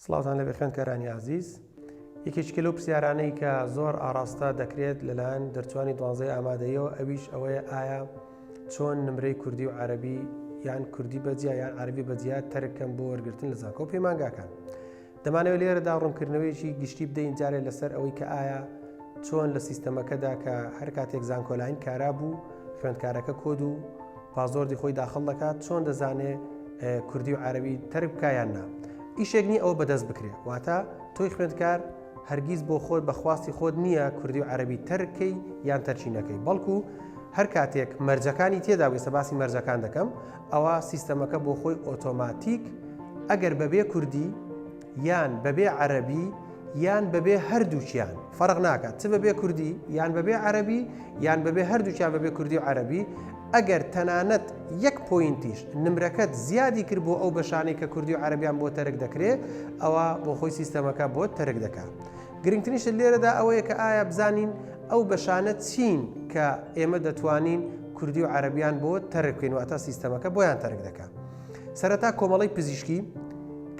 سڵاوتان لێبێ خوێندکارانی ئازیز. یەکێکیکە لەو پرسیارانەی کە زۆر ئاڕاستە دەکرێت لەلایەن دەرچوانی دوانزەی ئامادەییەوە ئەویش ئەوەیە ئایا چۆن نمرەی کوردی و عەرەبی یان کوردی بەجیا یان عەربی بەجیا تەرکەم بۆ وەرگرتن لە زانکۆ پەیمانگاکان دەمانەوە لێرەدا ڕوونکردنەوەیەکی گشتی بدەین جارێ لەسەر ئەوەی کە ئایا چۆن لە سیستەمەکەدا کە هەر کاتێک زانکۆلاین کارا بوو خوێندکارەکە کۆد و پاسۆردی خۆی داخڵ دەکات چۆن دەزانێ کوردی و عربی تەرک بکایان نا ئیشێک نی ئەو بەدەست بکرێ واتە تۆی خوێندکار هەرگیز بۆ خۆت بەخواستی خۆت نییە کوردی و عربی تەرکەی یان تەرچینەکەی بەڵکو هەر کاتێک مەرجەکانی تێدا وێسە باسی مەرجەکان دەکەم ئەوە سیستەمەکە بۆ خۆی ئۆتۆماتیک ئەگەر بەبێ کوردی یان بەبێ عەرەبی یان بەبێ هەردووکیان فەرق ناکات چ بەبێ کوردی یان بەبێ عەرەبی یان بەبێ هەردووکیان بەبێ کوردی و عەرەبی ئەگەر تەنانەت یەک پۆینتیش نمرەکەت زیادی کرد بۆ ئەو بەشانەی کە کوردی و عەربیان بۆ تەرک دەکرێت ئەوە بۆ خۆی سیستەمەکە بۆ تەرک دەکات گرنگترینش لێرەدا ئەوەیە کە ئایا بزانین ئەو بەشانە چین کە ئێمە دەتوانین کوردی و عەربیان بۆ تەرکین واتە سیستەمەکە بۆیان تەرک دەکات سەرەتا کۆمەڵەی پزیشکی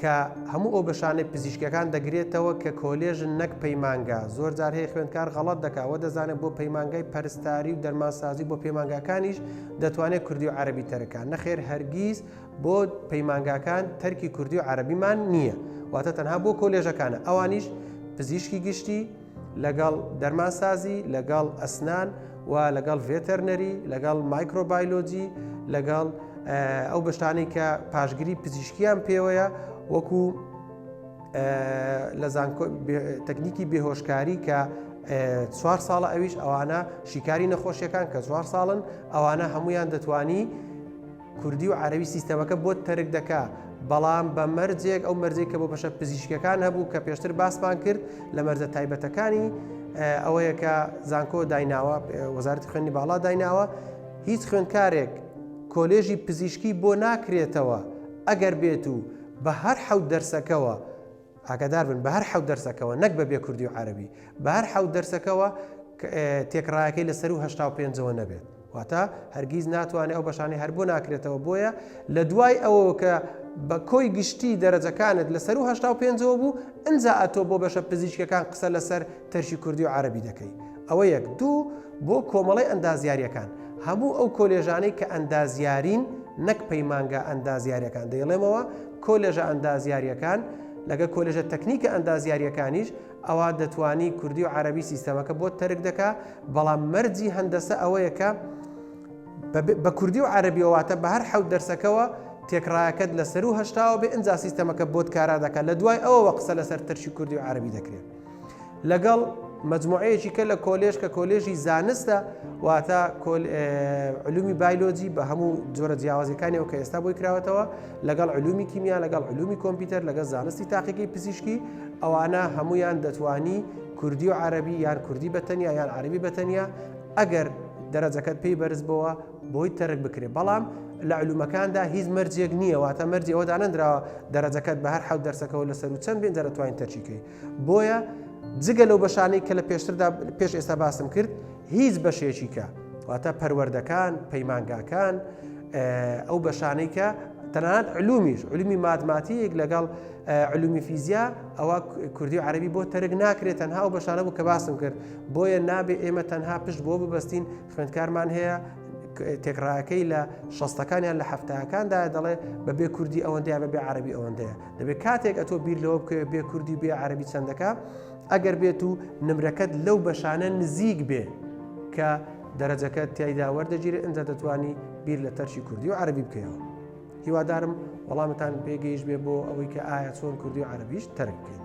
کە هەموو ئەو بەشانەی پزیشکەکان دەگرێتەوە کە کۆلێژن نەک پەیمانگا زۆر جار هەیە خوێندکار غەڵت دەکەوە دەزانێت بۆ پەیمانگای پەرستاری و دەرمانسازی بۆ پەیمانگاکانیش دەتوانێت کوردی و عەربی تەرەکان نەخێر هەرگیز بۆ پەیمانگاکان تەرکی کوردی و عەربیمان نییە واتە تەنها بۆ کۆلێژەکانە ئەوانیش پزیشکی گشتی لەگەڵ دەرمانسازی، لەگەڵ ئەسنان و لەگەڵ ڤێتەرنەری، لەگەڵ مایکرۆبایلۆجی، لەگەڵ ئەو بەشتانەی کە پاشگری پزیشکیان پێوەیە وەکو لە تەکنیکی بێهۆشکاری کە چوار ساڵە ئەویش ئەوانە شیکاری نەخۆشیەکان کە چوار ساڵن ئەوانە هەمویان دەتوانی کوردی و عەرەبی سیستەمەکە بۆت تەرک دەکا بەڵام بە مەرجێک ئەو مەرجەی کە بۆ بەشە پزیشکەکان هەبوو کە پێشتر باسمان کرد لە مەرجە تایبەتەکانی ئەوەیە کە زانکۆ دایناوە وەزارەتی خوێنی باڵا دایناوە هیچ خوێندکارێک کۆلێژی پزیشکی بۆ ناکرێتەوە ئەگەر بێت و بە هەر حەوت دەرسەکەوە ئاگادار بن بە هەر حەوت دەرسەکەوە نەک بە بێ کوردی و عەرەبی بە هەر حەوت دەرسەکەوە تێکڕایەکەی لە سەروو هەشتا و پێنجەوە نەبێت واتە هەرگیز ناتوانێت ئەو بەشانی هەر بۆ ناکرێتەوە بۆیە لە دوای ئەوە کە بە کۆی گشتی دەرەجەکانت لە سەروو هەشتا و پێنجەوە بوو ئەجا ئەتۆ بۆ بەشە پزیشکەکان قسە لەسەر ترکی کوردی و عەرەبی دەکەی ئەوە یەک دوو بۆ کۆمەڵەی ئەندازیاریەکان هەموو ئەو کۆلێژانەی کە ئەندازیارین نەک پەیمانگا ئەندازیارەکان دەیڵێمەوە کۆلێژە ئەندازیاریەکان لەگە کۆلێژە تەکنیکە ئەندازیاریەکانیش ئەوا دەتوانی کوردی و عەرەبی سیستەمەکە بۆ تەرک دەکا بەڵام مەرجی هەندەسە ئەوەیە کە بە کوردی و عەربیەوەواتە بە هەر حەوت دەرسەکەەوە تێکڕایەکەت لە سەر و هشتاوە بێ ئەجا سیستەمەکە بۆت کارا دەکات لە دوای ئەوەوە قسە لەسەر ترشی کوردی و عربی دەکرێت لەگەڵ مجموعەیەکی کە لە کۆلێژ کە کۆلێژی زانستە واتە علومی بایلۆجی بە هەموو جۆرە جیاوازەکانیەوە کە ئێستا بۆی کراوەتەوە لەگەڵ علومی کیمیا لەگەڵ علومی کۆمپیوتەر لەگەڵ زانستی تاقیقی پزیشکی ئەوانە هەمویان دەتوانی کوردی و عربی یان کوردی بەتەنیا یان عربی بەتەنیا ئەگەر دەرەجەکەت پێی بەرز بەوە بۆی تەرک بکرێت بەڵام لە علومەکاندا هیچ مەرجێک نییە واتە مەرجی ئەوە دانەندراوە دەرەجەکەت بە هەر حەوت دەرسەکەەوە لەسەر و چەند بێن دەرەتوانین تەرچیکەی بۆیە جگە لەو بەشانەی کە لە پێشتردا پێش ئێستا باسم کرد هیچ بەشێکی کە واتە پەروەردەکان پەیمانگاکان ئەو بەشانەی کە تەنانەت علومیش علومی مادماتیک لەگەڵ علومی فیزیا ئەوە کوردی و عربی بۆ تەرگ ناکرێت تەنها و بەشانە بوو کە باسم کرد بۆیە نابێ ئێمە تەنها پشت بۆ ببستین خوێندکارمان هەیە تێکڕایەکەی لە شەستەکانیان لە هەفتەکاندا دەڵێ بە بێ کوردی ئەوەندەیە بە بێ عربی ئەوەندەیە دەبێت کاتێک ئەتۆ بیر لەوە بکەوێت بێ کوردی بێ عربی چەندەکە ئەگەر بێت و نمرەکەت لەو بەشانە نزیک بێ کە دەرەجەکە تایدا وەردەگیرێت ئەجا دەتوانی بیر لە تەرشی کوردی و عربی بکەیەوە هیوادارم وەڵامتان بێگەیش بێ بۆ ئەوەی کە ئایا چۆن کوردی و عربیش تەرک بکەین